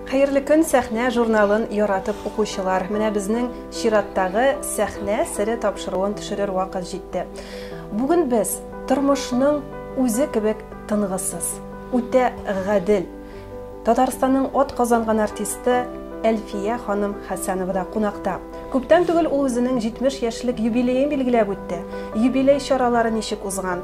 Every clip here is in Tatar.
Хәерле көн, сәхнә журналын яратып укучылар. Менә безнең чираттагы сәхнә сере тапшыруын төшерер вакыт җитте. Бүген без тормышның үзе кебек тынгысыз, үтә гадел. Татарстанның от казанган артисты Әлфия ханым Хәсәнова да кунакта. Күптән түгел ул үзенең 70 яшьлек юбилеен билгеләп үтте. Юбилей чаралары ничек узган?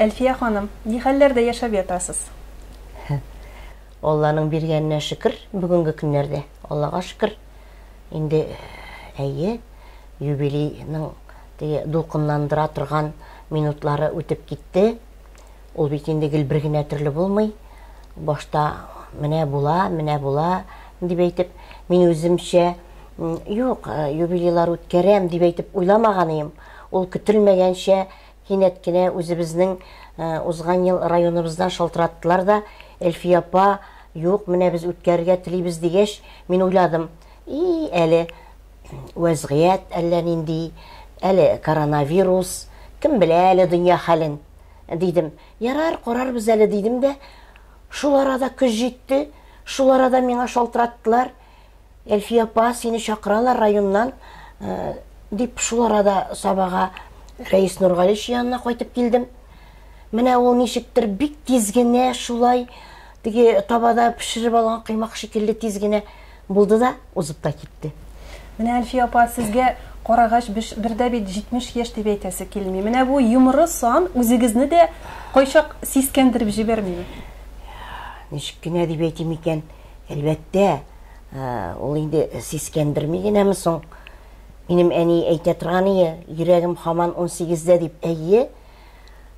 Әлфия ханым, ни хәлләрдә яшәп ятасыз? Алланың биргәненә шөкер, бүгенге көннәрдә, Аллага шөкер. Инде әйе, юбилейның теге дулкынландыра торган минутлары үтеп китте. Ул бит инде гел бер генә төрле булмый. Башта менә була, менә була дип әйтеп, мин үземчә юк, юбилейлар үткәрәм дип әйтеп уйламаган идем. Ул көтелмәгәнчә Кинәт кенә үзебезнең узган ел районыбыздан шалтыраттылар да, Әлфия апа, юк, менә без үткәрергә телибез, дигәч, мин уйладым, и, әле вәзгыять әллә нинди, әле коронавирус, кем белә әле дөнья хәлен, дидем. Ярар, карарбыз әле, дидем дә, шул арада көз җитте, шул арада миңа шалтыраттылар. Әлфия апа, сине чакыралар районнан, э, дип шул арада Сабага Рәис Нургалич янына кайтып килдем. Менә ул ничектер бик тиз генә шулай теге табада пешереп алган кыймак шикелле тиз генә булды да узып та китте. Менә Әлфия апа, сезгә карагач биш- бердә бит 70 яшь дип әйтәсе килми. Менә бу йомры сан үзегезне дә кайчак сискәндереп җибәрмиме? Ничек кенә дип әйтим икән? Әлбәттә, ул инде сискәндерми генәме соң? Минем әни әйтә торган ие, йөрәгем хаман унсигездә дип. Әйе,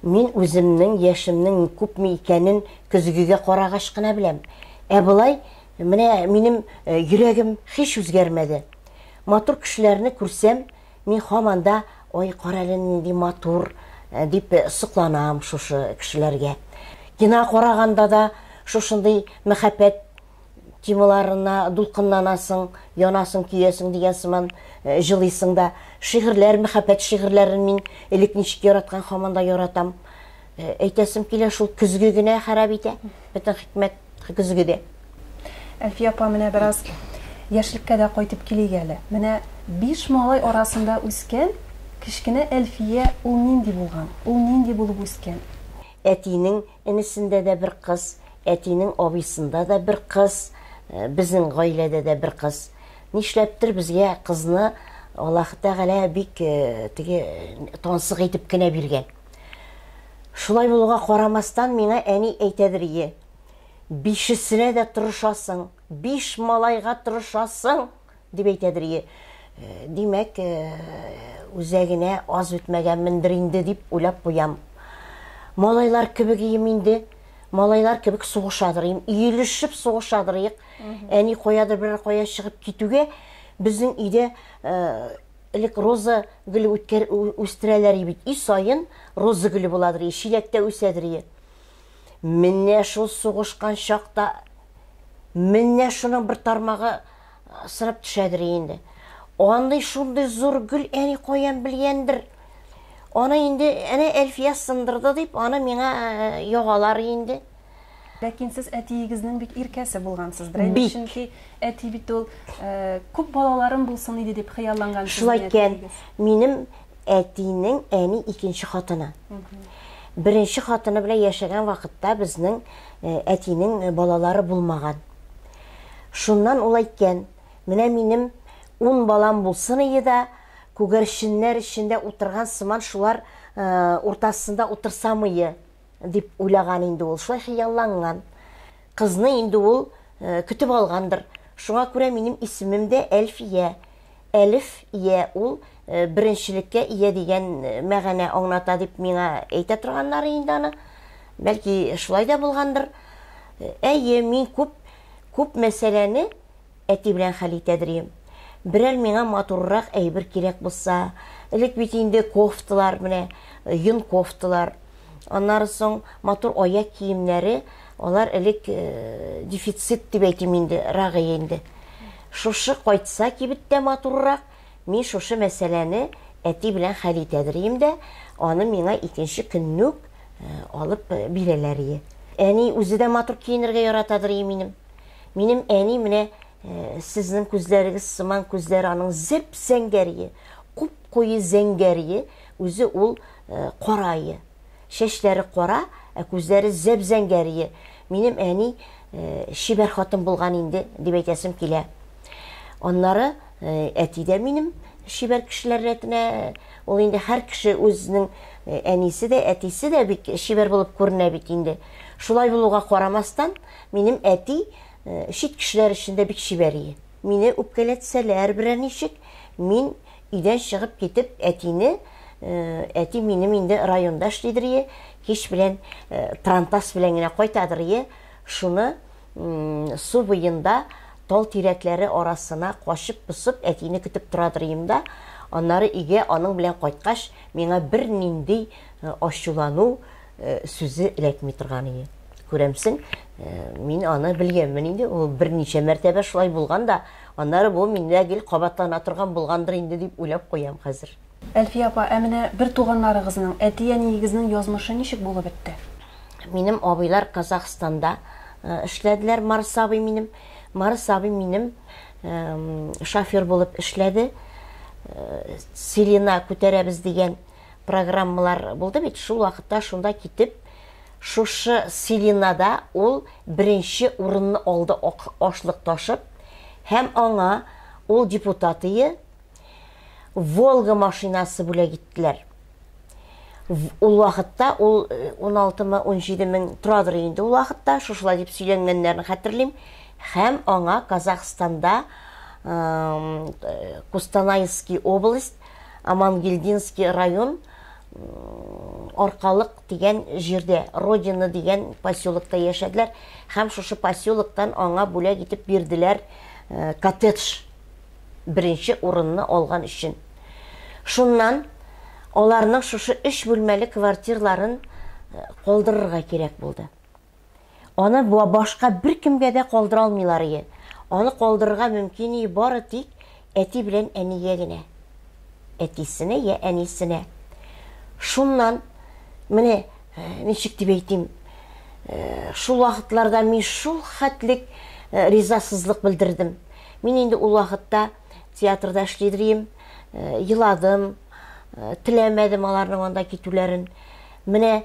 мин үземнең яшемнең күпме икәнен көзгегә карагач кына беләм. Ә болай, менә минем йөрәгем һич үзгәрмәде. Матур кешеләрне күрсәм, Мин һаман да, Ой, карале, нинди матур, дип сокланам шушы кешеләргә. Кино караганда да шушындый мәхәббәт темаларына дулкынланасың, янасың, көясең дигән сыман җылыйсың да. Шигырьләр, мәхәббәт шигырьләрен мин элек ничек яраткан, һаман да яратам. Э, әйтәсем килә шул көзге генә харап итә бөтен хикмәт көзгедә әлфия апа менә бераз яшьлеккә дә кайтып килик әле менә биш малай арасында үскән кечкенә әлфия ул нинди булган ул нинди булып үскән әтинең энесендә дә бер кыз әтинең абыйсында да бер кыз э, безнең гаиләдә дә бер кыз нишләптер безгә кызны аллаһ тәгалә бик э, теге тансык итеп кенә биргән Шулай булуга карамастан, миңа әни әйтәдер ие, Бишесенә дә тырышасың, биш малайга тырышасың! дип әйтәдер ие. Димәк, үзәгенә аз үтмәгәнмендер инде дип уйлап куям. Малайлар кебек ием инде, малайлар кебек сугышадыр ием, иелешеп сугышадыр иек. Әни каядыр берәр кая чыгып китүгә, безнең өйдә Элек роза гөле үткәр үстерәләр и бит. И саен роза гөле буладыр и, чиләктә үсәдер и. Менә шул сугышкан чакта менә шуның бер тармагы сырып төшәдер инде. Андый шундый зур гөл әни каян белгәндер. Аны инде әнә Әлфия сындырды дип, аны миңа ягалар инде. Ләкин сез әтиегезнең бик иркәсе булгансыз. Берәйбер чөнки әти бит ул э, күп балаларым булсын иде дип хыялланган. Шулай икән, минем әтинең әни икенче хатыны. Беренче хатыны белән яшәгән вакытта безнең э, әтинең э, балалары булмаган. Шуннан ул әйткән, менә минем ун балам булсын иде дә, күгәрченнәр эчендә утырган сыман шулар уртасында утырсамые. Дип уйлаган инде ул, шулай хыялланган. Кызны инде ул көтеп алгандыр. Шуңа күрә минем исемем дә Әлфия. Әлиф ия ул беренчелеккә ия дигән мәгәнә аңлата дип миңа әйтә торганнары инде аны. Бәлки шулай да булгандыр. Әйе, мин күп күп мәсьәләне Әти белән хәл итәдерем. Берәр миңа матуррак әйбер кирәк булса, элек бит инде кофталар, менә йон кофталар, аннары соң матур аяк киемнәре, алар элек э, дефицит дип әйтим инде, рагые инде. Шушы кайтса кибеттә матуррак, мин шушы мәсьәләне әти белән хәл итәдерем дә, аны миңа икенче көнне үк э, алып э, бирәләр. Әни үзе дә матур киенергә яратадыр минем. Минем әни менә э, сезнең күзләрегез сыман күзләр аның зәп зәңгәрие, куп куе зәңгәрие, үзе ул э, карае. Чәчләре кара, ә күзләре зәп зәңгәрие. Минем әни э, шибәр хатын булган инде дип әйтәсем килә. Аннары э, әти дә минем шибәр кешеләр рәтенә ул инде һәр кеше үзенең э, әнисе дә, әтисе дә бик шибәр булып күренә бит инде. Шулай булуга карамастан, Минем әти чит кешеләр өчен дә бик чибәр ие. Мине үпкәләтсәләр берәр ничек, мин өйдән чыгып китеп, әтине, әти минем инде районда эшлидер ие, кич белән пронтас белән генә кайтадыр ие, шуны су буенда тал тирәкләре арасына качып-посып әтине көтеп торадыр ием да, аннары өйгә аның белән кайткач, миңа бернинди ачулану, Э, сүзе эләкми торган иде күрәмсең э, мин аны белгәнмен инде ул берничә мәртәбә шулай булган да аннары бу миндә гел кабатлана торган булгандыр инде дип уйлап куям хәзер әлфия апа ә менә бер туганнарыгызның әти әниегезнең язмышы ничек булып бетте минем абыйлар казахстанда э, эшләделәр марс абый минем марс абый минем шофер булып эшләде селена күтәрәбез дигән программалар булды бит, шул вакытта шунда китеп, шушы Селинада ул беренче урынны алды ашлык ташып, һәм аңа ул депутатые Волга машинасы бүләк иттеләр. Ул вакытта ул 16 мы 17 мең торадыр инде ул вакытта, шушылай дип сөйләнгәннәрен хәтерлим, һәм аңа Казахстанда Кустанайский область Амангельдинский район Аркалык дигән җирдә, Родина дигән поселокта яшәделәр һәм шушы поселоктан аңа бүләк итеп бирделәр э, коттедж беренче урынны алган өчен. Шуннан аларның шушы өч бүлмәле квартирларын э, калдырырга кирәк булды. Аны башка беркемгә дә калдыра алмыйлар ие. Аны калдырырга мөмкин ие бары тик әти белән әнигә генә. Әтисенә я әнисенә. Шуннан, менә ничек дип әйтим, шул вакытларда мин шул хәтлек ризасызлык белдердем. Мин инде ул вакытта театрда эшли идем, еладым, теләмәдем аларның анда китүләрен. Менә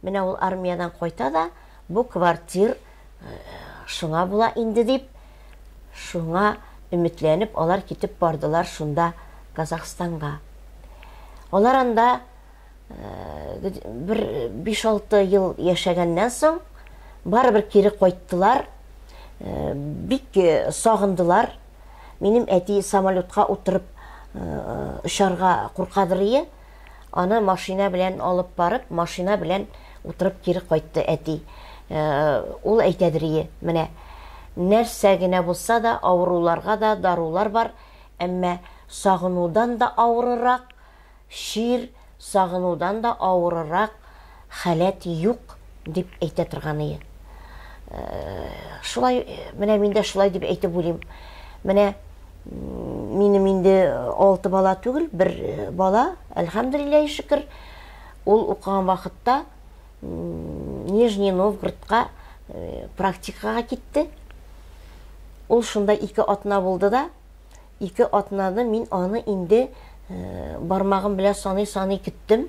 Менә ул армиядән кайта да, бу квартир шуңа була инде дип, шуңа өметләнеп, алар китеп бардылар шунда Казахстанга. Алар анда бер 5-6 ел яшәгәннән соң, барыбер кире кайттылар, бик сагындылар. Минем әти самолетка утырып очарга куркадырые, Аны машина белән алып барып, машина белән утырып кире кайтты әти. Э, ул әйтәдрие, менә нәрсә генә булса да, авыруларга да дарулар бар, әмма сагынудан да авырырак, чир сагынудан да авырырак халәт юк дип әйтә торганые. Шулай, менә мин дә шулай дип әйтеп уйлыйм. Менә минем инде алты бала түгел, бер бала, әлхәмдулилләһи шөкер, ул укыган вакытта Нижний Новгородка практикага китте. Ул шунда ике атна булды да, Ике атнады, мин аны инде бармагым белән саный-саный көттем.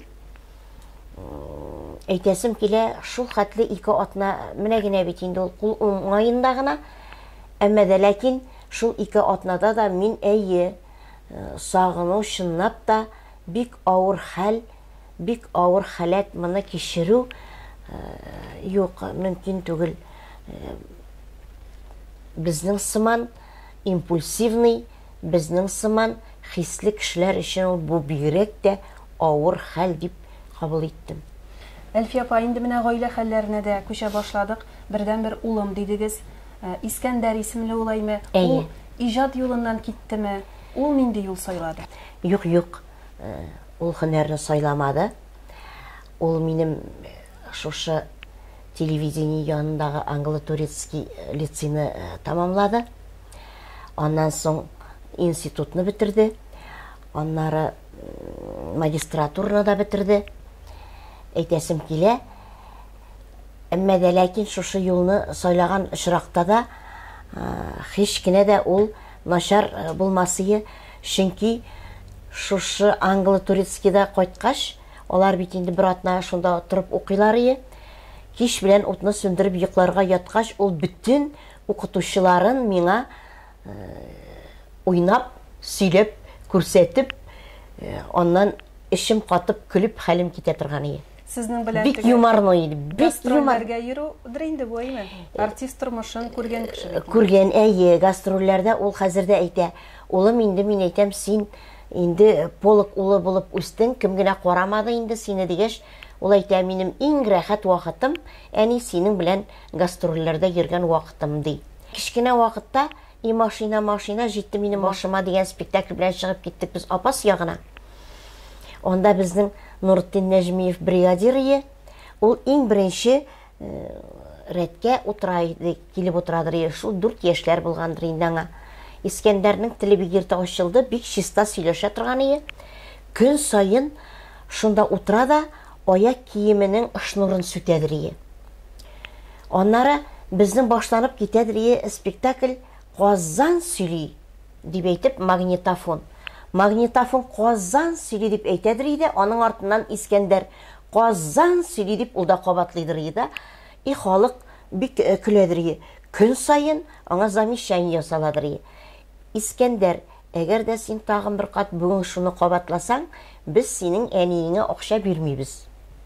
Әйтәсем килә, шул хәтле ике атна, менә генә бит инде ул кул уңаенда гына. Әмма дә ләкин шул ике атнада да мин әйе, сагыну чынлап та бик авыр хәл, бик авыр халәт моны кичерү юк, мөмкин түгел. Безнең сыман Импульсивный, безнең сыман хисле кешеләр өчен ул бу бигрәк тә авыр хәл дип кабул иттем. Әлфия апа, инде менә гаилә хәлләренә дә күчә башладык. Бердәнбер улым дидегез. Искәндәр исемле ул, әйме? Ул иҗат юлыннан киттеме? Ул нинди юл сайлады? Юк, юк. Ул һөнәрне сайламады. Ул минем шушы телевидение янындагы Англо-Турецкий лицейны тәмамлады. Аннан соң институтны бетерде. Аннары магистратураны да бетерде. Әйтәсем килә. Әмма дә ләкин шушы юлны сайлаган очракта да һич кенә дә ул начар булмасые, чөнки шушы англо-турецкийда кайткач, Алар бит инде бер атна шунда торып укыйлар ие. Кич белән утны сүндереп йокларга яткач, ул бөтен укытучыларын миңа э, уйнап, сөйләп, күрсәтеп, э, аннан эчем катып көлеп хәлем китә торган ие. Сезнең белән бик юморно иде. Бик юморга йөрүдер инде бу әйме? Э, Артист тормышын күргән кеше. Күргән әйе, гастрольләрдә ул хәзер дә әйтә. Улым инде мин әйтәм, син Инде полк улы булып үстең, кем генә карамады инде сине, дигәч, ул әйтә, минем иң рәхәт вакытым, әни, синең белән гастрольләрдә йөргән вакытым, ди. Кечкенә вакытта И машина, машина, җитте минем башыма дигән спектакль белән чыгып киттек без Апас ягына. Анда безнең Нуретдин Нәҗмиев бригадир ие. Ул иң беренче рәткә утыра иде, килеп утырадыр, шул дүрт яшьләр булгандыр инде аңа. Искәндәрнең теле бик иртә ачылды, бик чиста сөйләшә торган ие. Көн саен шунда утыра да аяк киеменең шнурын сүтәдер ие. Аннары безнең башланып китәдер ие спектакль Казан сөйли дип әйтеп магнитофон. Магнитофон Казан сөйли дип әйтәдер иде, аның артыннан Искәндәр Казан сөйли дип ул да кабатлыйдырые да, и халык бик көләдерие, көн саен аңа замещание ясаладырые. Искәндәр, әгәр дә син тагын бер кат бүген шуны кабатласаң, без синең әниеңә акча бирмибез,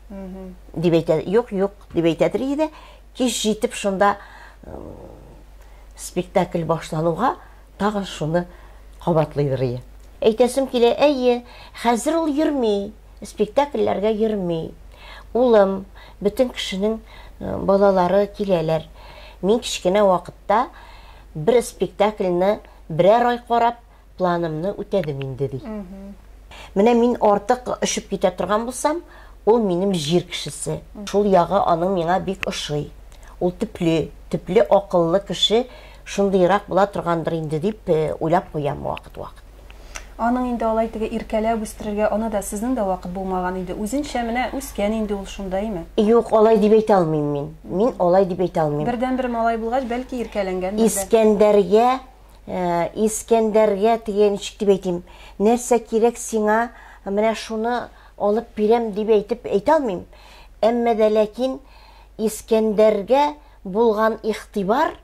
дип әйтә. Юк, юк, дип әйтәдерие дә, кич җитеп шунда спектакль башлануга тагын шуны кабатлыйдырые. Әйтәсем килә, әйе, хәзер ул йөрми. спектакльләргә йөрми. Улым, бөтен кешенең э, балалары киләләр. Мин кечкенә вакытта бер спектакльне берәр ай карап, планымны үтәдем инде ди. Менә мин артык өшеп китә торган булсам, ул минем җир кешесе. Шул ягы аның миңа бик ошый. Ул төпле, төпле акыллы кеше шундыйрак була торгандыр инде дип э, уйлап куям вакыт-вакыт. Аның инде алай теге иркәләп үстерергә аны да, сезнең дә вакыт булмаган иде. Үзенчә менә үскән инде ул шунда, име? Юк, алай дип әйтә алмыйм мин. Мин алай дип әйтә алмыйм. Бердәнбер малай булгач, бәлки иркәләнгәндер дә. Искәндәргә, Искәндәргә теге ничек дип әйтим, нәрсә кирәк сиңа, менә шуны алып бирәм дип әйтеп әйтә алмыйм. Әмма дә ләкин Искәндәргә булган игътибар,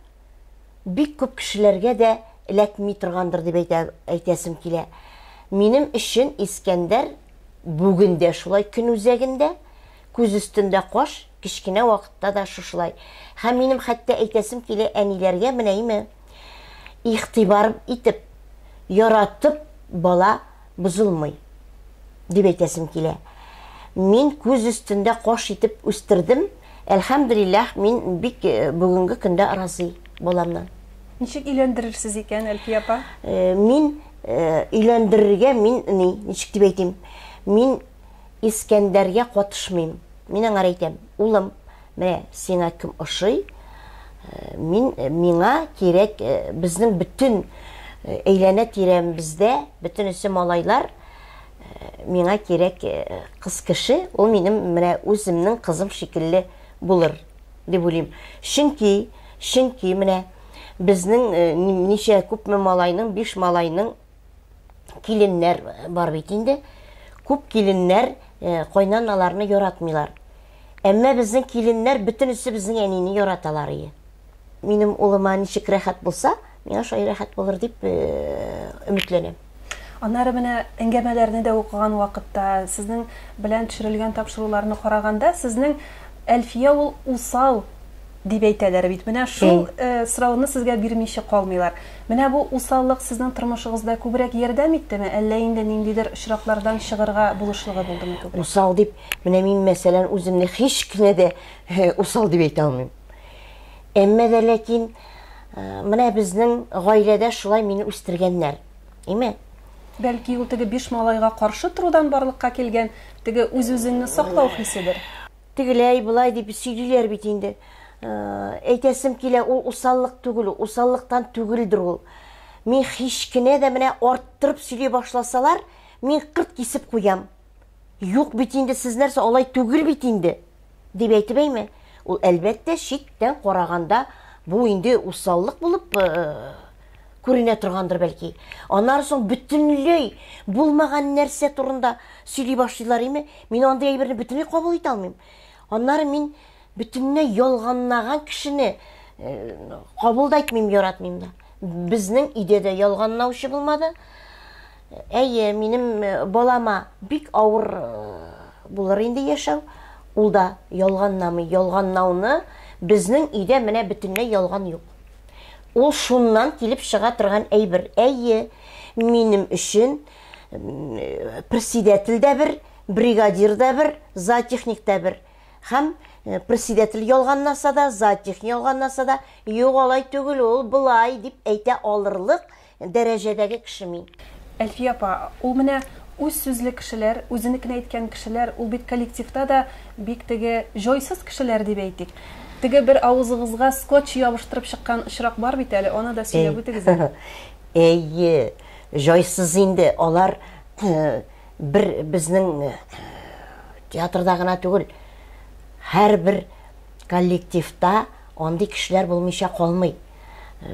бик күп кешеләргә дә эләкми торгандыр дип әйтә, әйтәсем килә. Минем өчен Искәндәр бүген дә шулай көн үзәгендә, күз өстендә каш, кечкенә вакытта да шушылай. Һәм минем хәтта әйтәсем килә әниләргә менә име, игътибар итеп, яратып бала бозылмый, дип әйтәсем килә. Мин күз өстендә кош итеп үстердем. Әлхәмдүлилләһ, мин бик э, бүгенге көндә разый баламнан. Ничек өйләндерерсез икән, Әлфия апа? Э, мин э, өйләндерергә мин ни, ничек дип әйтим? Мин Искәндәргә катышмыйм. Мин аңар әйтәм, улым, Менә сиңа кем ошый? Мин, миңа кирәк, безнең бөтен әйләнә-тирәмбездә бөтенесе малайлар, миңа кирәк кыз кеше, ул минем менә үземнең кызым шикелле булыр, дип уйлыйм. Чөнки, чөнки менә безнең ничә күпме малайның, биш малайның киленнәр бар бит инде. Күп киленнәр э, кайнаналарны яратмыйлар. Әмма безнең киленнәр бөтенесе безнең әнине яраталар ие. Минем улыма ничек рәхәт булса, миңа шулай рәхәт булыр дип э, өметләнәм. Аннары менә әңгәмәләрне дә укыган вакытта, сезнең белән төшерелгән тапшыруларны караганда, сезнең Әлфия ул усал дип әйтәләр бит. Менә шул э, сорауны сезгә бирмичә калмыйлар. Менә бу усаллык сезнең тормышыгызда күбрәк ярдәм иттеме, әллә инде ниндидер очраклардан чыгырга булышлыгы булдымы күбрәк? Усал дип, менә мин мәсәлән үземне һич кенә дә э, усал дип әйтә алмыйм. Әмма дә ләкин э, менә безнең гаиләдә шулай мине үстергәннәр. Име? Бәлки ул теге биш малайга каршы торудан барлыкка килгән теге үз-үзеңне саклау хиседер? Тегеләй, болай дип сөйлиләр бит инде. Э, әйтәсем килә, ул усаллык түгел, усаллыктан түгелдер ул. Мин һич кенә дә менә арттырып сөйли башласалар, мин кырт кисеп куям. Юк бит инде сез нәрсә алай түгел бит инде дип әйтеп әйме? Ул әлбәттә читтән караганда бу инде усаллык булып э, Күренә торгандыр, бәлки. Аннары соң бөтенләй булмаган нәрсә турында сөйли башлыйлар име? Мин андый әйберне бөтенләй кабул итә алмыйм. Аннары мин бөтенләй ялганнаган кешене кабул да итмим, яратмыйм да. Безнең өйдә дә ялганнаучы булмады. Әйе, минем балама бик авыр булыр инде яшәү. Ул да ялганнамый. Ялганнауны безнең өйдә менә бөтенләй ялган юк. Ул шуннан килеп чыга торган әйбер. Әйе, минем өчен председатель дә бер, бригадир дә бер, зоотехник дә бер. Һәм э, председатель ялганласа да, зоотехник ялганласа да, юк алай түгел ул, былай дип әйтә алырлык Дәрәҗәдәге кеше мин. Әлфия апа, ул менә үз сүзле кешеләр, үзенекен әйткән кешеләр, ул бит коллективта да бик теге җойсыз кешеләр дип әйтик. Теге бер авызыгызга скотч ябыштырып чыккан очрак бар бит әле, аны да сөйләп үтегез әле. Әйе, җайсыз инде, алар бер безнең театрда гына түгел, һәрбер коллективта андый кешеләр булмыйча калмый.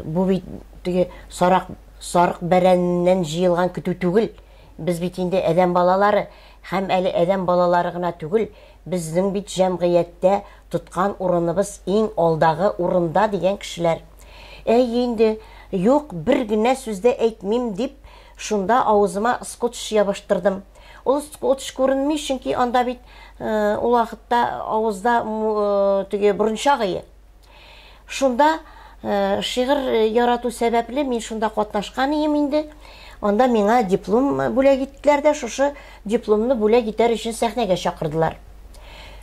Бу бит теге сарак сарык бәрәненнән җыелган көтү түгел. Без бит инде адәм балалары һәм әле адәм балалары гына түгел, безнең бит җәмгыятьтә тоткан урыныбыз иң алдагы урында дигән кешеләр. Әй инде, юк, бер генә сүз дә әйтмим, дип, шунда авызыма скотч ябыштырдым. Ул скотч күренми, чөнки анда бит э, ул вакытта авызда э, теге борынча гые. Шунда э, шигырь э, ярату сәбәпле мин шунда катнашкан ием инде. Анда миңа диплом бүләк иттеләр дә, шушы дипломны бүләк итәр өчен сәхнәгә чакырдылар.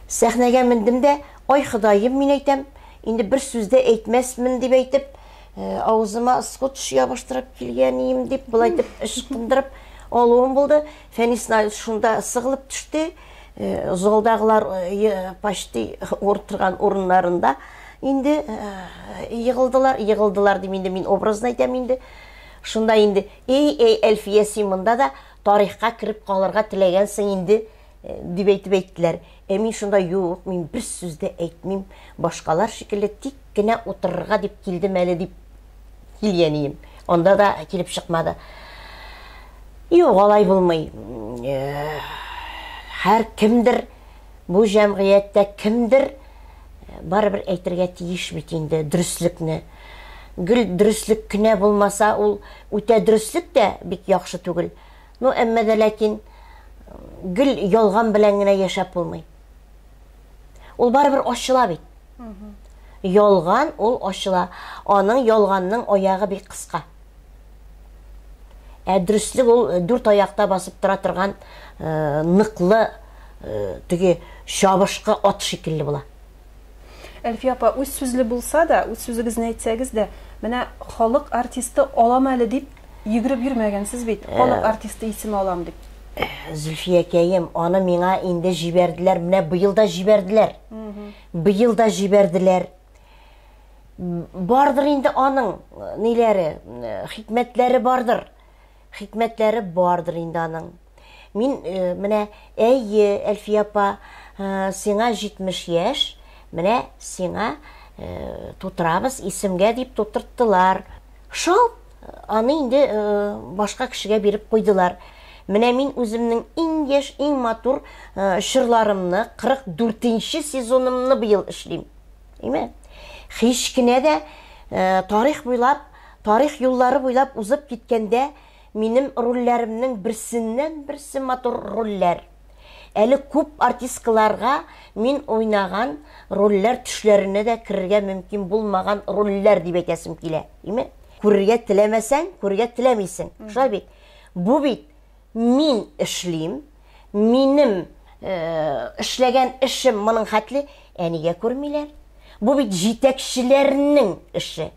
Сәхнәгә мендем дә, ай Ходаем, мин әйтәм, инде бер сүздә әйтмәсмен дип әйтеп, э, авызыма скотч ябыштырып килгән ием дип, былай дип ычкындырып алуым булды. Фәнис Наилович шунда сыгылып төште, залдагылар почти уртырган урыннарында инде егылдылар, егылдылар дим инде мин образно әйтәм инде. Шунда инде, эй, эй, Әлфия, син монда да тарихка кереп калырга теләгәнсең инде, э, дип әйтеп әйттеләр. Ә мин шунда юк, мин бер сүз дә әйтмим, башкалар шикелле тик кенә утырырга дип килдем әле дип Кил, әнием. Анда да килеп чыкмады. Юк, алай булмый. Һәр кемдер бу җәмгыятьтә кемдер барыбер әйтергә тиеш бит инде дөреслекне. Гел дөреслек кенә булмаса, ул үтә дөреслек тә бик яхшы түгел. Ну, әмма дә ләкин гел ялган белән генә яшәп булмый. Ул барыбер ачыла бит. Ялган ул ачыла. Аның ялганның аягы бик кыска. Ә дөреслек ул э, дүрт аякта басып тора торган э, ныклы э, теге чабышкы ат шикелле була. Әлфия апа, үз сүзле булса да, үз сүзегезне әйтсәгез дә, менә халык артисты алам әле дип Йөгереп йөрмәгәнсез бит, э. халык артисты исеме алам дип. Э, Зөлфиякәем, аны миңа инде җибәрделәр, менә быел да җибәрделәр. Быел да җибәрделәр. Бардыр инде аның э, ниләре, хикмәтләре бардыр. Хикмәтләре бардыр инде аның. Мин э, менә, әйе, Әлфия апа, э, сиңа 70 яшь, менә сиңа э, тутырабыз, исемгә дип тутырттылар. Шал аны инде башка кешегә биреп куйдылар. Менә мин үземнең иң яшь, иң матур чырларымны, 44-нче сезонымны быел эшлим. Әйме? Һич кенә дә тарих буйлап, тарих юллары буйлап узып киткәндә, Минем рольләремнең берсеннән-берсе матур рольләр. Әле күп артисткаларга мин уйнаган рольләр төшләренә дә керергә мөмкин булмаган рольләр дип әйтәсем килә. Име? Күрергә теләмәсәң, күрергә теләмисең. Шулай бит? Бу бит мин эшлим, минем эшләгән эшем моның хәтле, ә нигә күрмиләр? Бу бит җитәкчеләрнең эше.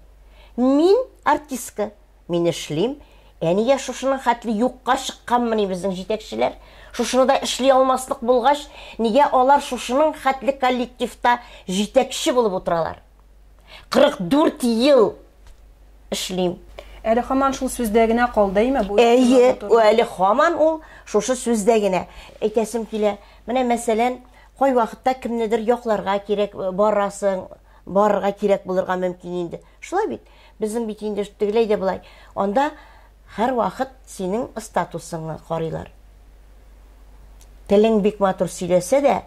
Мин артистка. мин эшлим. Ә нигә шушының хәтле юкка чыкканмыни безнең җитәкчеләр? Шушыны да эшли алмаслык булгач, нигә алар шушының хәтле коллективта җитәкче булып утыралар? 44 ел эшлим. Әле хаман шул сүздә генә калды име бу? Әйе, әле хаман ул шушы сүздә генә. Әйтәсем килә, менә мәсәлән, кайвакытта кемнедер якларга кирәк, э, барасың, барырга кирәк булырга мөмкин инде. Шулай бит? Безнең бит инде тегеләй дә болай, анда һәрвакыт синең статусыңны карыйлар. Телең бик матур сөйләсә дә,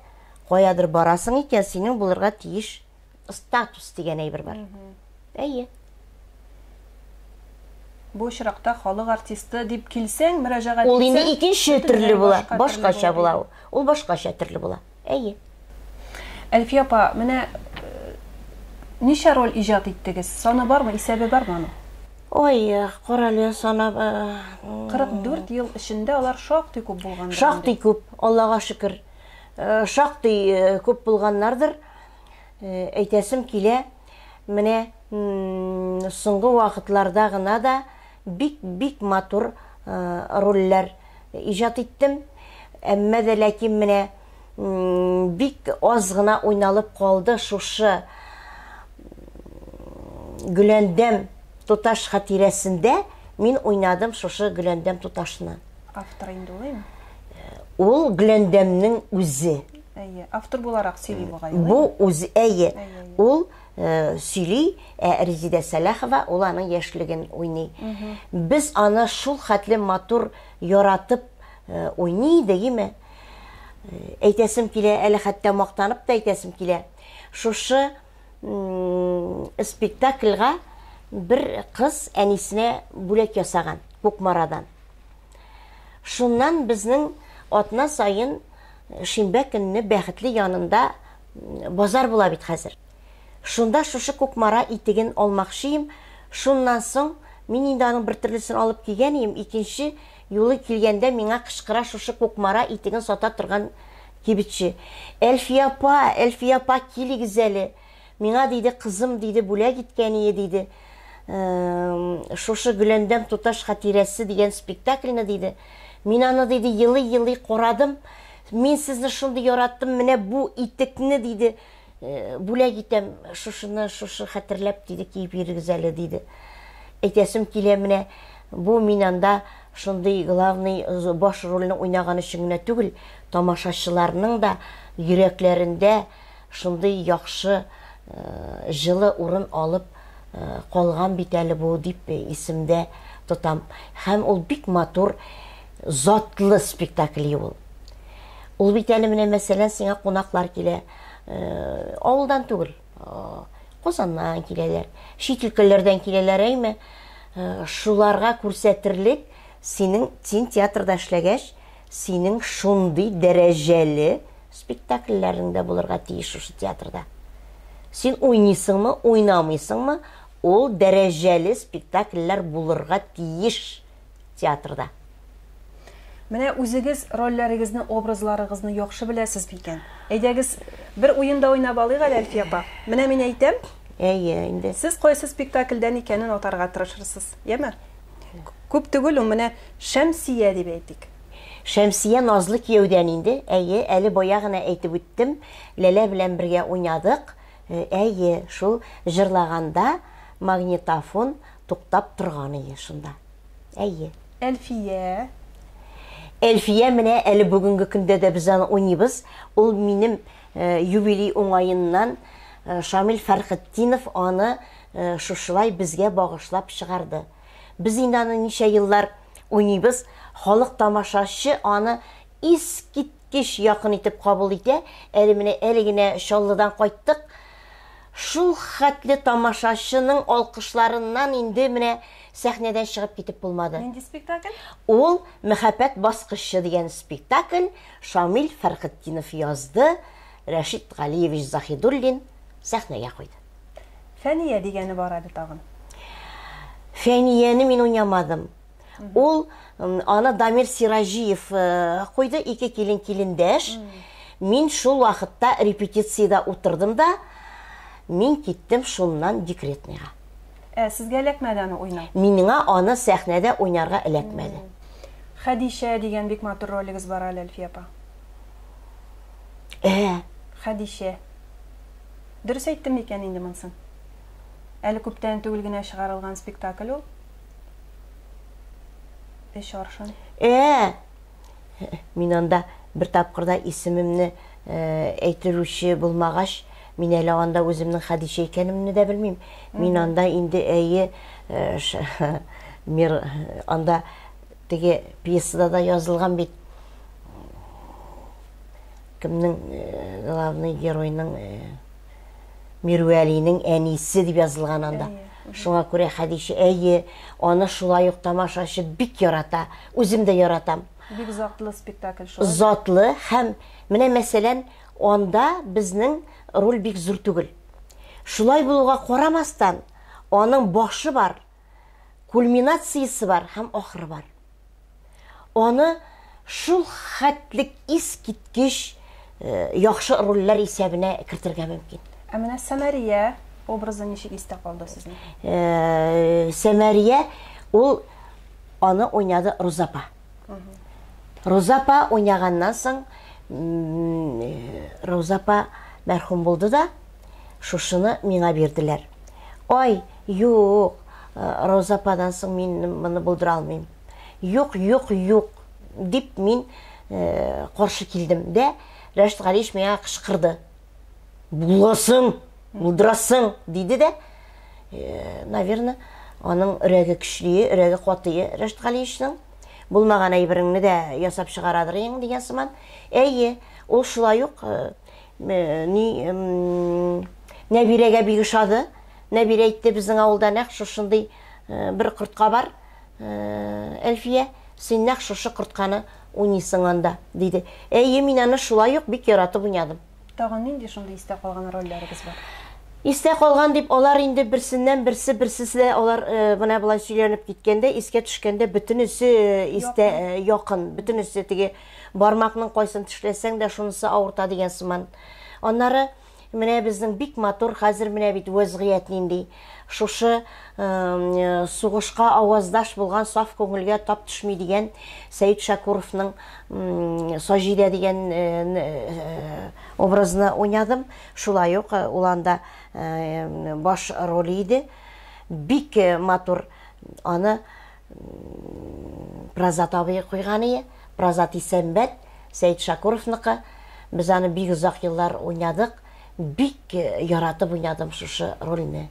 каядыр барасың икән, синең булырга тиеш статус дигән әйбер бар. Әйе. Бу очракта халык артисты дип килсәң, мөрәҗәгать итсәң, ул инде икенче төрле була, башкача була ул. Ул башкача төрле була. Әйе. Әлфия апа, менә ничә роль иҗат иттегез? Саны бармы, исәбе бармы аның? Ой, карале санап. 44 ел эчендә алар шактый күп булган. Шактый күп, Аллага шөкер. Шактый күп булганнардыр. Әйтәсем килә, менә соңгы вакытларда гына да Бик бик матур рольләр иҗат иттем, әмма дә ләкин менә бик аз гына уйналып калды шушы Гөләндәм туташ хатирәсендә мин уйнадым шушы Гөләндәм туташны. Автор инде ул әйме? Ул Гөләндәмнең үзе. Әйе, автор буларак сөйли бугай. Бу үзе әйе. Ул сөйли, ә Резидә Сәләхова ул аның яшьлеген уйный. Без аны шул хәтле матур яратып э, уйный идек, име? Э, әйтәсем килә, әле хәтта мактанып та әйтәсем килә. Шушы спектакльга бер кыз әнисенә бүләк ясаган Кукмарадан. Шуннан безнең атна сайын э, шимбә көнне бәхетле янында Базар була бит хәзер. Шунда шушы Кукмара итеген алмакчыем, шуннан соң, мин инде аның бер төрлесен алып кигән ием, икенче юлы килгәндә миңа кычкыра шушы Кукмара итеген сата торган кибетче. Әлфия апа, Әлфия апа, килегез әле. Миңа, диде, кызым, диде, бүләк иткән ие, диде, шушы Гөләндәм туташ хатирәсе дигән спектакльне, диде. Мин аны, диде, елый-елый карадым, Мин сезне шундый яраттым, менә бу итекне, диде, э, бүләк итәм, шушыны, шушы хәтерләп, диде, киеп йөрегез әле, диде. Әйтәсем килә, менә бу мин анда шундый главный баш рольне уйнаган өчен генә түгел, тамашачыларның да йөрәкләрендә Шундый яхшы, җылы урын алып калган бит әле бу, дип исемдә тотам. Һәм ул бик матур, затлы спектакли ул. Ул бит әле менә, мәсәлән, сиңа кунаклар килә, авылдан түгел, Казаннан киләләр, чит өлкәләрдән киләләр, әйме, шуларга күрсәтерлек синең, син театрда эшләгәч, Синең шундый дәрәҗәле спектакльләрең дә булырга тиеш шушы театрда. Син уйныйсыңмы, уйнамыйсыңмы, ул дәрәҗәле спектакльләр булырга тиеш театрда. Менә үзегез рольләрегезне, образларыгызны яхшы беләсез микән? Әйдәгез, бер уен да уйнап алыйк әле, Әлфия апа. Менә мин әйтәм. Әйе, инде. Сез кайсы спектакльдән икәнен атарга тырышырсыз, яме? Күп түгел ул, менә Шәмсия дип әйтик. Шәмсия назлы кияүдән инде, әйе, әле бая гына әйтеп үттем, Ләлә белән бергә уйнадык, э, әйе, шул җырлаганда магнитофон туктап торган иде шунда, әйе. Әлфия? Әлфия менә әле бүгенге көндә дә без аны уйныйбыз, ул минем э, юбилей уңаеннан э, Шамил Фәрхетдинов аны шушылай безгә багышлап чыгарды. Без инде аны ничә еллар уйныйбыз, халык тамашачы аны искиткеч якын итеп кабул итә, әле менә әле генә Чаллыдан кайттык, шул хәтле тамашачының алкышларыннан инде менә сәхнәдән чыгып китеп булмады. Нинди спектакль? Ул Мәхәббәт баскычы дигән спектакль, Шамил Фәрхетдинов язды, Рәшит Галиевич Заһидуллин сәхнәгә куйды. Фәния дигәне бар әле тагын. Фәнияне мин уйнамадым. Ул аны Дамир Сираҗиев э, куйды, ике килен килендәш. Мин шул вакытта репетициядә утырдым да, мин киттем шуннан декретныйга. Ә сезгә эләкмәде аны уйнау? Миңа аны сәхнәдә уйнарга эләкмәде. Хәдичә дигән бик матур ролегез бар әле, Әлфия апа. Ә, Хәдичә. Дөрес әйттем микән инде монсын? Әле күптән түгел генә чыгарылган спектакль ул. Өч аршын. Э-э! Мин анда бер тапкырда исемемне э, әйтерүче булмагач, мин әле анда үземнең Хәдичә икәнемне дә белмим. Мин анда инде әйе э, мир анда теге пьесада да язылган бит. Кемнең главный геройның Мирвәлинең әнисе дип язылган анда. Шуңа күрә Хәдичә, әйе, аны шулай ук тамашачы бик ярата. Үзем дә яратам. Бик затлы спектакль шулай. Затлы һәм менә мәсәлән, анда безнең роль бик зур түгел. Шулай булуга карамастан, аның башы бар. кульминациясе бар һәм ахыры бар. Аны шул хәтлек искиткеч э, яхшы рольләр исәбенә кертергә мөмкин. Ә менә Сәмәрия образы ничек истә калды сезнең? Э, Сәмәрия ул аны уйнады Рузапа. Рузапа уйнаганнан соң Рузапа мәрхүм булды да, Шушыны миңа бирделәр. Ай, юк, Роза ападан соң мин моны булдыра алмыйм. Юк, юк, юк, дип мин каршы килдем дә, Рәшит Галиевич миңа кычкырды. Буласың, булдырасың, диде дә, наверное, аның өрәге көчле, өрәге катые Рәшит Галиевичның булмаган әйбереңне дә ясап чыгарадыр ең дигән сыман. Әйе, ул шулай ук э, ни нәбирәгә бик ошады нәбирә әйтте безнең авылда нәкъ шушындый э, бер кортка бар э, әлфия син нәкъ шушы кортканы уйныйсың анда диде әйе мин аны шулай ук бик яратып уйнадым тагын нинди шундый истә калган рольләрегез бар истә калган дип алар инде берсеннән берсе берсесе алар э, менә болай сөйләнеп киткәндә искә төшкәндә бөтенесе э, истә якын, э, бөтенесе теге Бармакның кайсын тешләсәң дә шунысы авырта дигән сыман. Аннары менә безнең бик матур хәзер менә бит вәзгыять нинди. Шушы сугышка аваздаш булган саф күңелгә тап төшми дигән Сәет Шакуровның Саҗидә дигән образны уйнадым. Шулай ук ул анда баш роле иде. Бик матур аны Прозат абый куйган ие, Прозат Исәнбәт, Сәет Шакуровныкы. Без аны бик озак еллар уйнадык. Бик яратып уйнадым шушы рольне.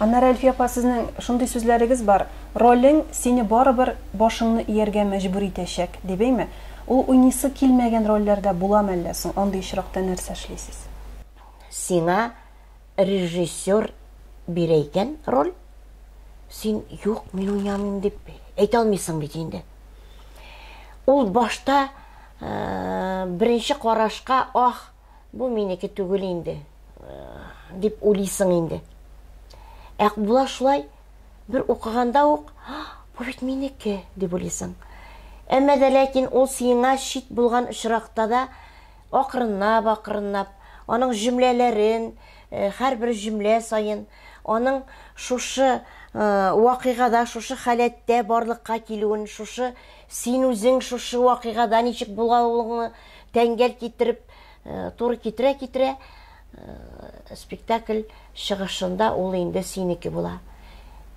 Аннары Әлфия апа сезнең шундый сүзләрегез бар, ролең сине барыбер башыңны ияргә мәҗбүр итәчәк, дип әйме? Ул уйныйсы килмәгән рольләрдә буламы әллә соң? Андый очракта нәрсә эшлисез? Сиңа режиссер бирә икән роль, син юк, мин уйнамыйм дип әйтә алмыйсың бит инде. Ул башта э, беренче карашка ах, бу минеке түгел инде э, дип уйлыйсың инде. Ә була шулай бер укыганда ук, бу бит минеке дип уйлыйсың. Әмма дә ләкин ул сиңа чит булган очракта да Акрынлап-акрынлап аның җөмләләрен, һәрбер җөмлә саен аның шушы вакыйгада, шушы халәттә барлыкка килүен, шушы син үзең шушы вакыйгада ничек булгалуыңны тәңгәл китереп, туры китерә-китерә, Спектакль чыгышында ул инде синеке була.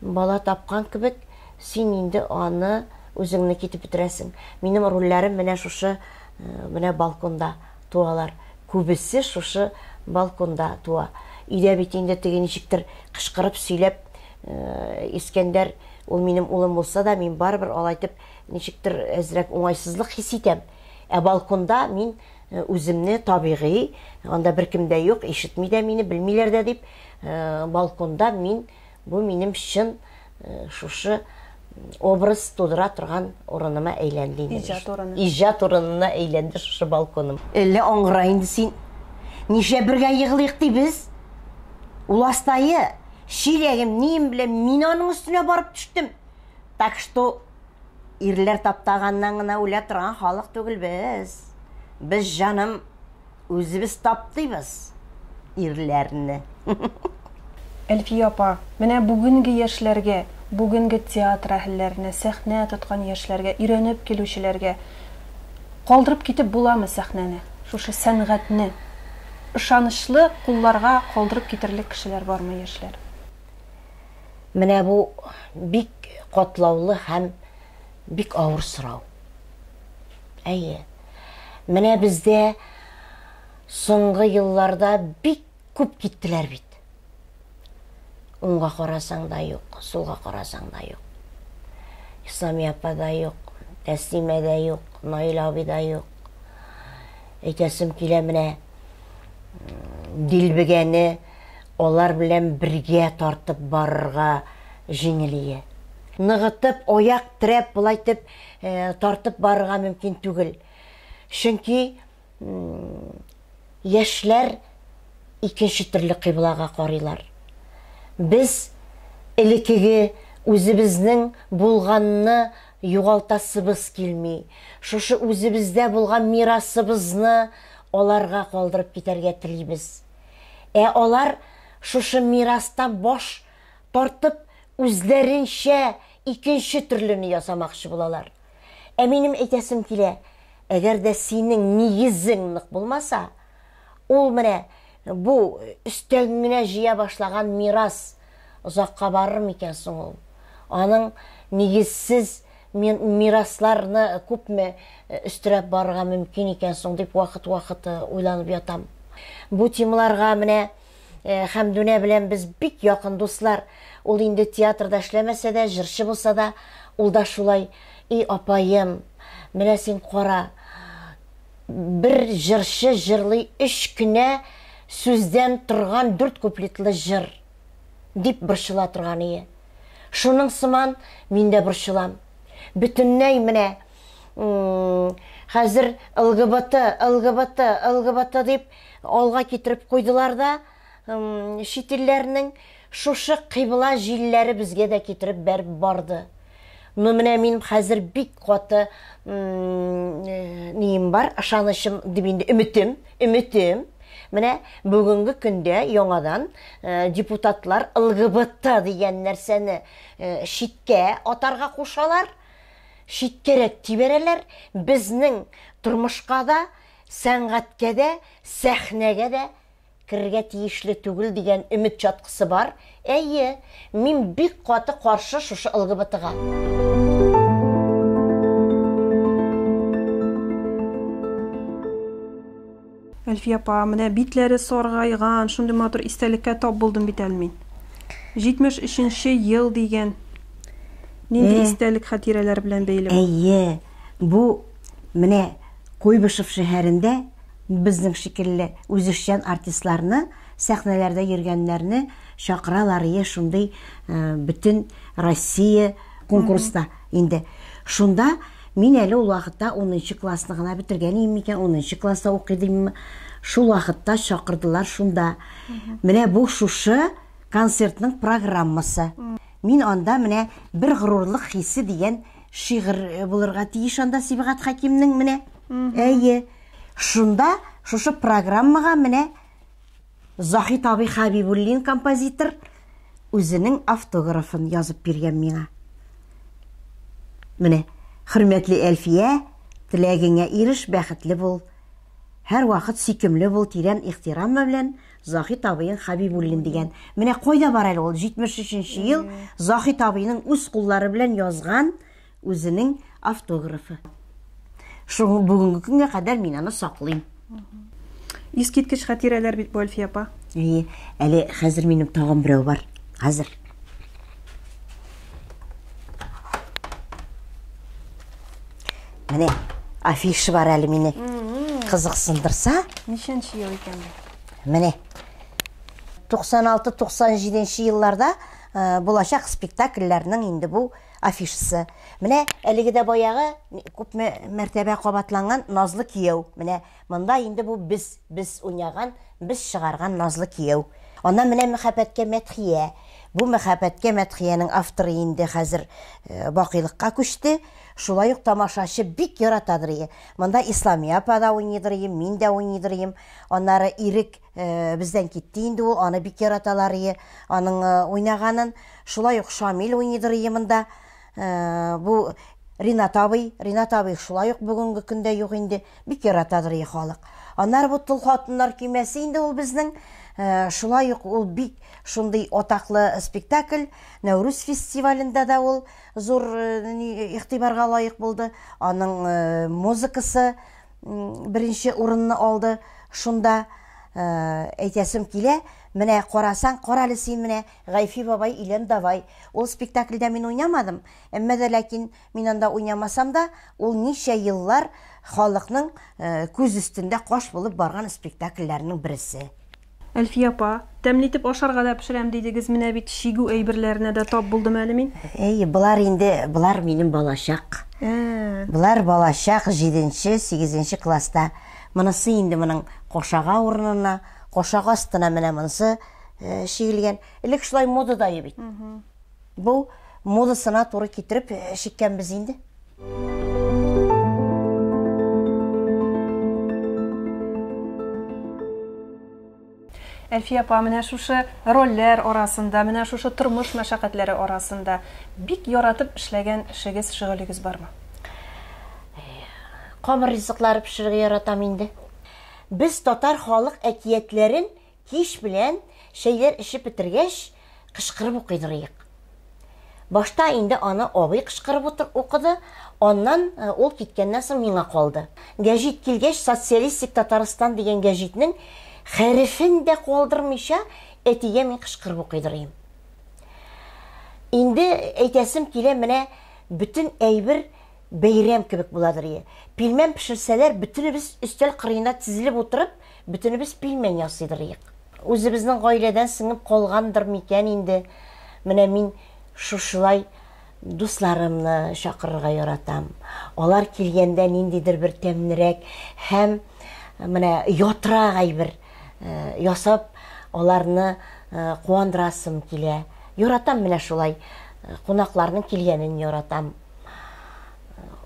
Бала тапкан кебек, син инде аны үзеңнеке итеп бетерәсең. Минем рольләрем менә шушы менә балконда туалар. Күбесе шушы балконда туа. Өйдә бит инде теге ничектер кычкырып сөйләп Искәндәр ул минем улым булса да, мин барыбер алай итеп ничектер әзрәк уңайсызлык хис итәм. Ә балконда мин Үземне табигый, анда беркем дә юк, ишетми дә мине, белмиләр дә дип, балконда мин, бу минем чын шушы образ тудыра торган урыныма әйләнде инде. Иҗат урыны. Иҗат урынына әйләнде шушы балконым. Әллә аңгыра инде син? Нишләп бергә егылыйк ди без? Ул астайы, чиләгем, нием белән мин аның өстенә барып төштем. Так что ирләр таптаганнан гына үлә торган халык түгел без. Без, җаным, үзебез таптыйбыз ирләрне. Әлфия апа, менә бүгенге яшьләргә, бүгенге театр әһелләренә, сәхнә тоткан яшьләргә, өйрәнеп килүчеләргә калдырып китеп буламы сәхнәне, шушы сәнгатьне? Ышанычлы кулларга калдырып китерлек кешеләр бармы, яшьләр? Менә бу бик катлаулы һәм бик авыр сорау. Әйе. Менә бездә соңгы елларда бик күп киттеләр бит. Уңга карасаң да юк, сулга карасаң да юк. Исламия апа да юк, Тәслимә дә юк, Наил абый да юк. Әйтәсем килә менә дилбегәне Алар белән бергә тартып барырга җиңелие. Ныгытып, аяк терәп, болай итеп тартып барырга мөмкин түгел. Чөнки яшьләр икенче төрле кыйблага карыйлар. Без элекеге үзебезнең булганны югалтасыбыз килми. Шушы үзебездә булган мирасыбызны аларга калдырып китәргә телибез. Ә алар шушы мирастан баш тартып, үзләренчә икенче төрлене ясамакчы булалар. Ә минем әйтәсем килә, әгәр дә синең нигезең нык булмаса, ул менә бу өстәген генә җыя башлаган мирас озакка барыр микән соң ул? Аның нигезсез Мин мирасларны күпме өстерәп барырга мөмкин икән соң дип вакыт-вакыт уйланып ятам. Бу темаларга менә Хәмдүнә белән без бик якын дуслар. Ул инде театрда эшләмәсә дә, җырчы булса да, ул да шулай, "И апаем, менә син кара, бер җырчы җырлый өч кенә сүздән торган дүрт куплетлы җыр. дип борчыла торгание. Шуның сыман мин дә борчылам. Бөтенләй менә хәзер ЛГБТ, ЛГБТ, ЛГБТ дип алга китереп куйдылар да, чит илләрнең шушы кыйбла җилләре безгә дә китереп бәреп барды. Ну менә минем хәзер бик каты э, нием бар, ышанычым дип инде өметем, өметем. Менә бүгенге көндә яңадан э, депутатлар ЛГБТ дигән нәрсәне э, читкә атарга кушалар, читкәрәк тибәрәләр. Безнең тормышка да, сәнгатькә дә, сәхнәгә дә керергә тиешле түгел дигән өмет чаткысы бар. Әйе, мин бик каты каршы шушы ЛГБТга. Әлфия апа, менә битләре саргайган, шундый матур истәлеккә тап булдым бит әле мин. 73-нче ел дигән. Нинди истәлек хатирәләр белән бәйле? Әйе, бу менә Куйбышев шәһәрендә Безнең шикелле үзешчән артистларны, сәхнәләрдә йөргәннәрне чакыралар ие шундый бөтен Россия конкурста инде. Шунда мин әле ул вакытта унынчы классны гына бетергән ием микән, унынчы класста укый димме, шул вакытта чакырдылар шунда. Менә бу шушы концертның программасы. Мин анда менә бер горурлык хисе дигән Шигырь булырга тиеш анда Сибгат Хәкимнең менә. Әйе. Шунда шушы программага менә Захи Таби Хабибуллин композитор үзенең автографын язып биргән миңа. Менә, хөрмәтле Әлфия, теләгеңә иреш, бәхетле бул. Һәрвакыт сөйкемле бул, тирән ихтирам белән. Заһит абыең Хәбибуллин дигән. Менә кайда бар әле ул 73 ел Заһит абыйның үз куллары белән язган үзенең автографы. Шуңа бүгенге көнгә кадәр мин аны саклыйм. Искиткеч хатирәләр бит бу, Әлфия апа. Әйе, әле хәзер минем тагын берәү бар. Хәзер. Менә афиша бар әле мине. Кызыксындырса, Ничәнче ел икән бу? Менә 96-97 елларда э, булачак спектакльләрнең инде бу афишасы. Менә әлеге дә баягы күп мәртәбә кабатланган Назлы кияү. Менә монда инде бу без без уйнаган, без чыгарган Назлы кияү. Аннан менә мәхәббәткә мәдхия. Бу мәхәббәткә мәдхиянең авторы инде хәзер э, бакыйлыкка күчте. Шулай ук тамашачы бик яратадыр. Монда Исламия апа да уйныйдыр, мин дә уйныйдыр. Аннары Ирек бездән китте инде ул, аны бик яраталар ие, аның уйнаганын. Шулай ук Шамил уйныйдыр ие монда. Бу Ринат абый, Ринат абый шулай ук бүгенге көндә юк инде, бик яратадыр ие халык. Аннары бу Тол хатыннар көймәсе инде ул безнең. Шулай ук ул бик шундый атаклы спектакль, Нәүрүз фестивалендә дә ул зур игътибарга лаек булды. Аның музыкасы беренче урынны алды шунда э, әйтәсем килә менә карасаң кара әле син менә гайфи бабай илен давай ул спектакльдә мин уйнамадым әмма дә ләкин мин анда уйнамасам да ул ничә еллар халыкның э, күз өстендә каш булып барган спектакльләрнең берсе Әлфия апа, тәмле итеп ашарга да пешерәм дидегез, менә бит чигү әйберләренә дә тап булдым әле мин. Әйе, болар инде, болар минем балачак. Ә. Болар балачак, җиденче, сигезенче класста. Монысы инде моның кошага урынына, кошак астына менә монысы чигелгән. Элек шулай модадайы бит. Бу модасына туры китереп чиккәнбез инде. Әлфия апа, менә шушы рольләр арасында, менә шушы тормыш мәшәкатьләре арасында бик яратып эшләгән эшегез, шөгылегез бармы? Камыр ризыклары пешерергә яратам инде. Без татар халык әкиятләрен Кич белән, чәйләр эчеп бетергәч, кычкырып укыйдыр иек. Башта инде аны абый кычкырып утыр, укыды, аннан, ул киткәннән соң, миңа калды. Гәҗит килгәч, Социалистик Татарстан дигән гәҗитнең хәрефен дә калдырмыйча, әтигә мин кычкырып укыйдыр ием. Инде әйтәсем килә, менә бөтен әйбер бәйрәм кебек буладыр ие. Пилмән пешерсәләр, бөтенебез өстәл кырыена тезелеп утырып, Бөтенебез пилмән ясыйдырыйк. Үзебезнең гаиләдән сеңеп калгандыр микән инде, менә мин шушылай дусларымны чакырырга яратам. Алар килгәндә ниндидер бер тәмнерәк һәм менә ятрак әйбер ясап, аларны куандырасым килә. Яратам менә шулай, кунакларның килгәнен яратам.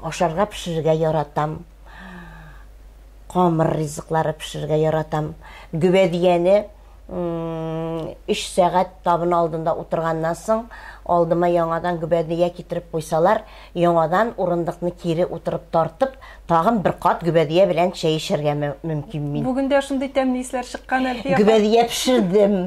Ашарга пешерергә яратам. камыр ризыклары пешерергә яратам. Гөбәдияне 3 сәгать табын алдында утырганнан соң, алдыма яңадан гөбәдия китереп куйсалар, яңадан урындыкны кире утырып тартып, тагын бер кат гөбәдия белән чәй эчәргә мөмкин мин. Бүген дә шундый тәмле исләр чыккан, Әлфия. Гөбәдия пешердем.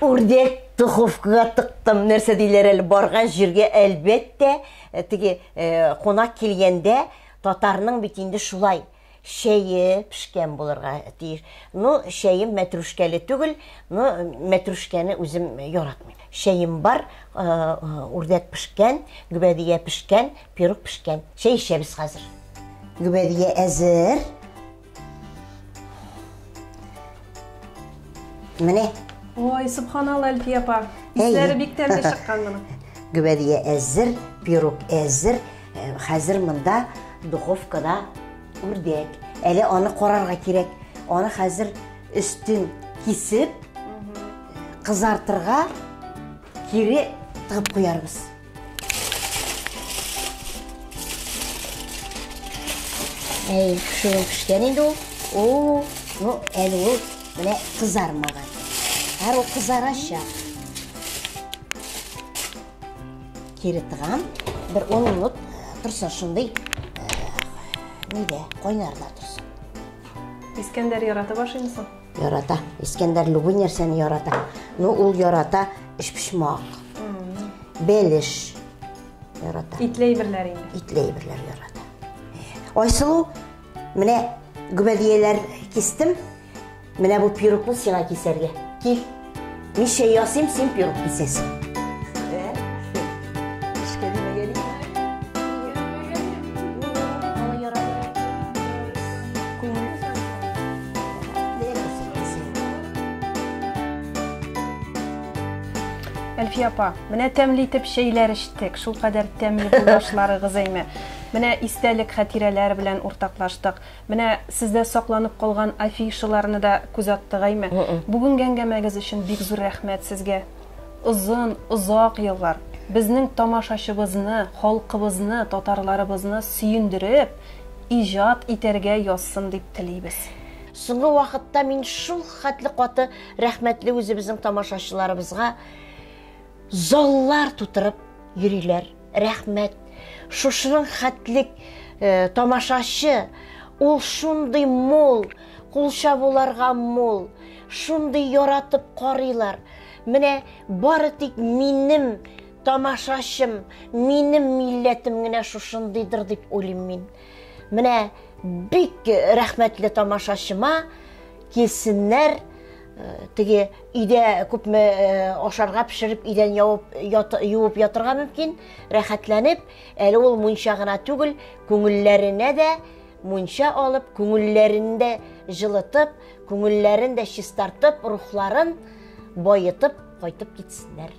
Үрдәк духовкага тыктым. Нәрсә диләр әле, барган җиргә әлбәттә, э, теге э, кунак килгәндә Татарның бит инде шулай чәе пешкән булырга тиеш. Ну, чәем мәтрүшкәле түгел, ну, мәтрүшкәне үзем яратмыйм. Чәем бар, э, үрдәк пешкән, гөбәдия пешкән, пирог пешкән. Чәй эчәбез хәзер. Гөбәдия әзер. Менә. Ой, субханалла, Әлфия апа. Исләре бик тәмле чыккан моның. Гүбәдия әзер, пирог әзер. Э, хәзер монда духовкада үрдәк. Әле аны карарга кирәк. Аны хәзер өстен кисеп, кызартырга кире тыгып куярбыз. Әй, шуның пешкән инде ул. О, ну, әле ул менә кызармаган. Һәр ул кызарачак. Кире тыгам. Бер 10 минут торсын шундый. Нидә, кайнарда торсын. Искәндәр ярата башлыймсың? Ярата. Искәндәр любой нәрсәне ярата. Ну, ул ярата эшпешмак. Белеш ярата. Итле әйберләр инде. Итле әйберләр ярата. Айсылу, менә гөбәдияләр кистем. Менә бу пирукны сиңа кисәргә. Кил. Миша ясыйм, син пирог песесың. Әлфия апа, менә тәмле итеп чәйләр эчтек. Шулкадәр тәмле булышларыгыз әйме. Менә истәлек хатирәләр белән уртаклаштык. Менә сездә сакланып калган афишаларны да күз аттыгайме? Бүгенге әңгәмәгез өчен бик зур рәхмәт сезгә. Озын, озак еллар безнең тамашачыбызны, халкыбызны, татарларыбызны сөендереп, иҗат итәргә язсын дип телибез. Соңгы вакытта мин шул хәтле каты рәхмәтле үзебезнең тамашачыларыбызга. Заллар тутырып йөриләр. Рәхмәт. Шушының хәтлек тамашачы, ул шундый мул, кул чабуларга мул, шундый яратып карыйлар. Менә бары тик минем тамашачым, минем милләтем генә шушындыйдыр дип уйлыйм мин. Менә бик рәхмәтле тамашачыма, килсеннәр, Теге өйдә күпме ашарга пешереп, өйдән явып, ят, юып ятырга мөмкин, рәхәтләнеп, әле ул мунча гына түгел, күңелләренә дә мунча алып, күңелләрен дә җылытып, күңелләрен дә чистартып, рухларын баетып кайтып китсеннәр.